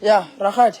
Yeah, Rahat.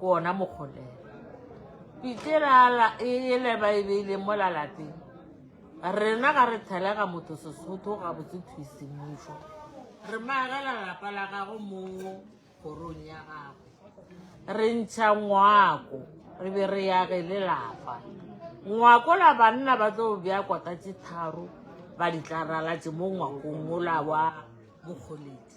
Go ona mokgole. Pitirala e le ba e beile mo la lapeng. Rena ga re thelega motho Sesotho ga botse thusi mmušo. Re magela lapa la gago mo korong ya gago. Re ntšha ngwako re be re ya ge le lapa. Ngwako la banna ba tlo bya kota tse tharo ba di tla ralatše mo ngwakong mo la wa mokgoledi.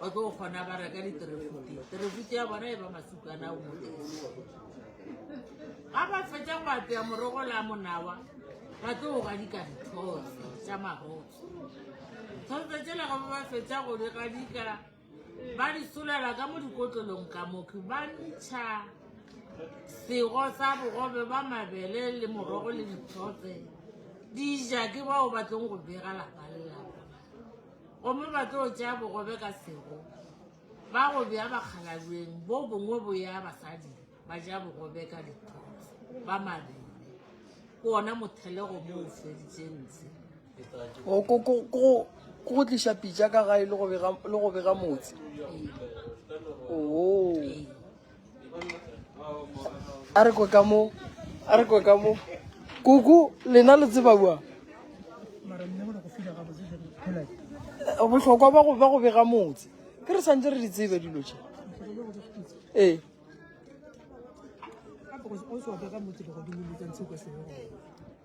ba tlo kgona ba reka diterefuti terefuti ya bona e ba masukana o mote ga ba fetsa go apea morogo la monawa ba tlo go ga dikanthosa tsa magoso thotsa tsela go ba ba fetsa go di gadika ba di solela ka mo dikotlolong ka moke ba ntšha sego sa bogobe ba mabele le morogo le dithotse di ja ke bao ba tlong go bega lapa lelapa Gomme ba tlo tšea bogobe ka sego, ba go bea bakgalabjeng, bo bongwe bo ya basading, ba ja bogobe ka dithotse, ba mabele. Ke wona mothelego mo o feditšeng ntshe. Go, go, go, go, go tliša pitša ka gae le go bega, le go bega motse. Ee. Oo. Ee. a re kwe ka mo a re kwe ka mo kuku lena le tseba bua bohlokwa ba go ba go bega motse ke re santse re di tsebe dilo tše ee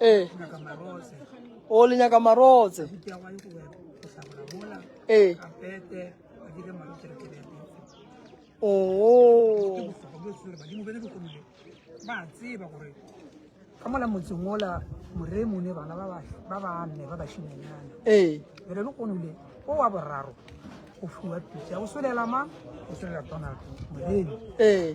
ee o le nyaka marotse ee oo ba tseba gore ka mola motseng ola moremo ne bana ba banne ba bashimenyana ee re le konole o wa boraro go fiwa pitsa o solela mang o solela donald moremo ee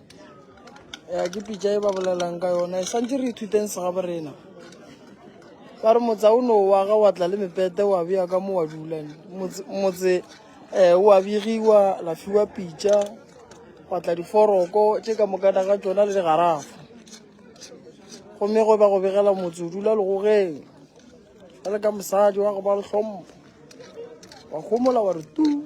ya ke pitša e ba bolelang ka yona e santse re ithuteng se ga borena ba re motse o ne wa ga wa tla le mepete wa beya ka mo wa dulang motse um wa begiwa la fiwa pitša wa tla diforoko tše ka mokana ga tsona le digarafa gomme go ba go begela motse o dula legogeng ga le ka mosadi wa go ba le hlompho wa gomola wa re tu